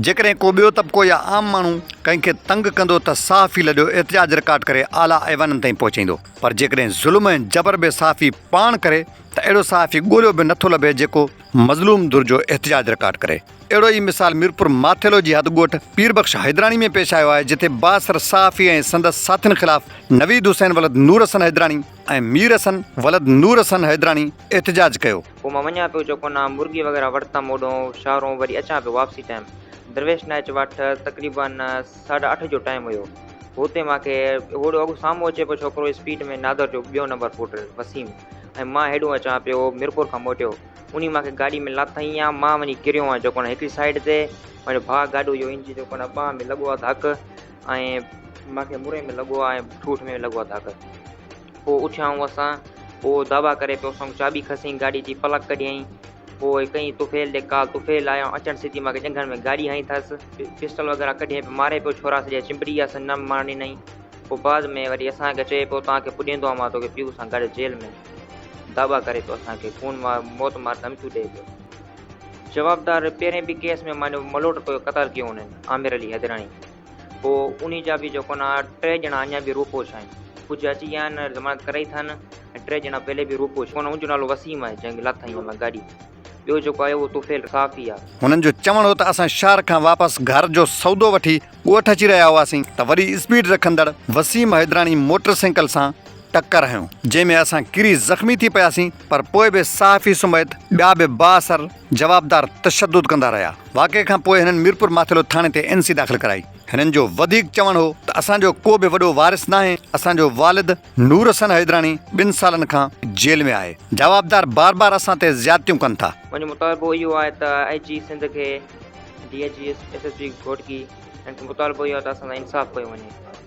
جيڪڏهن ڪو ٻيو طبقو يا عام ماڻهو ڪنهن کي تنگ ڪندو ته صحافي لڏيو احتجاج رڪارڊ ڪري اعليٰ ايوانن تائين پهچائيندو پر جيڪڏهن ظلم ۽ جبر به صحافي پاڻ ڪري ته اهڙو صحافي ڳوليو به نٿو لڀي جيڪو مظلوم ڌر جو احتجاج رڪارڊ ڪري. اهڙو ئي مثال ميرپور ماٿيلو جي حد ڳوٺ پير بخش حيدراڻي ۾ پيش آيو آهي جتي بااثر صحافي ۽ سندس ساٿين خلاف نويد حسين ولد نور حسن حيدراڻي ۽ مير حسن ولد نور حسن حيدراڻي احتجاج ڪيو. پوء مان وڃان پيو چوڪون ڏانهن مرغي وغيره وٺتم اوڏهون شهرون وري اچان پيو واپسي ٽائيم درويش نائچ واٽ تقريبا ساڍا اٺ جو ٽائيم هيو هوتي مان کي هوڏو اڳ سامهون اچي پيو ڇوڪرو اسپيڊ ۾ نادر جو ٻيو نمبر پوٽر وسيم ۽ مان هيڏون اچان پيو ميرپور کان موٽيو انهي مان کي گاڏي ۾ لاٿائين ها مان وڃي ڪريو هان چوڪون ڏانهن هڪڙي سائيڊ تي پنهنجو ڀاء گاڏو جو انجن چوڪون ڏانهن ٻانهن ۾ لڳو ها ڌڪ ۽ مان کي مري ۾ لڳو ها ۽ ٺوٺ ۾ لڳو ها ڌڪ. پوء اٿيائون اسان. هو دعويٰ ڪري پيو. اسان چاٻي کسين گاڏي جي پلڪ ڪڍيائين. پوء ڪئين طفيل ڏي ڪال. طفيل آيو اچڻ سيٽي مان کي ڄنگهن ۾ ڳاڏي هنئي ٿس. پسٽل وغيره ڪڍي پيو ماري پيو ڇورا سڄا چنبڙي ويا سن نم مار ڏنائين. پوء بعد ۾ وري اسان کي چئي پيو توهان کي پڄيندو آهيان مان توکي پيء سان گڏ جيل ۾. دعويٰ ڪري پيو اسان کي خون مار موت مار ڌمڪيون ڏئي پيو. جوابدار پهرين به ڪيس ۾ مانيو ملوٽ ڪيو قتل ڪيو هنن عامر علي حيدراڻي. پوء انهي جا به جيڪو نه ٽي ڄڻا اڃا به روپوش آهن. ڪجهه اچي ويا آهن ضمانت ڪرائي ٿا نه ۽ ٽي ڄڻا پهرين به روپوش هئا نه ان جو نالو وسيم آهي جنهن کي لاٿائين هن مان گاڏي تي. ٻيو جيڪو آهي اهو طفيل صافي آهي. هنن جو چوڻ هو ته اسان شهر کان واپس گهر جو سودو وٺي ڳوٺ اچي رهيا هئاسين ته وري اسپيڊ رکندڙ وسيم حيدراڻي موٽر سائيڪل سان ٽڪر هنيو جنهن ۾ اسان ڪري زخمي ٿي پياسين پر پوء به صحافي سميت ٻيا به بااثر جوابدار تشدد ڪندا رهيا، واقعي کان پوء هنن ميرپور ماٿيلو ٿاڻي تي اين سي داخل ڪرائي، هنن جو وڌيڪ چوڻ هو ته اسان جو ڪو به وڏو وارث ناهي، اسان جو والد نورحسن حيدراڻي ٻن سالن کان جيل ۾ آهي، جوابدار بار بار اسان تي زيادتيون ڪن ٿا. منهنجو مطالبو اهو آهي ته آء جي سنڌ کي D I G S S P Ghotki هنن کي مطالبو اهو آهي ته اسان سان انصاف ڪيو وڃي.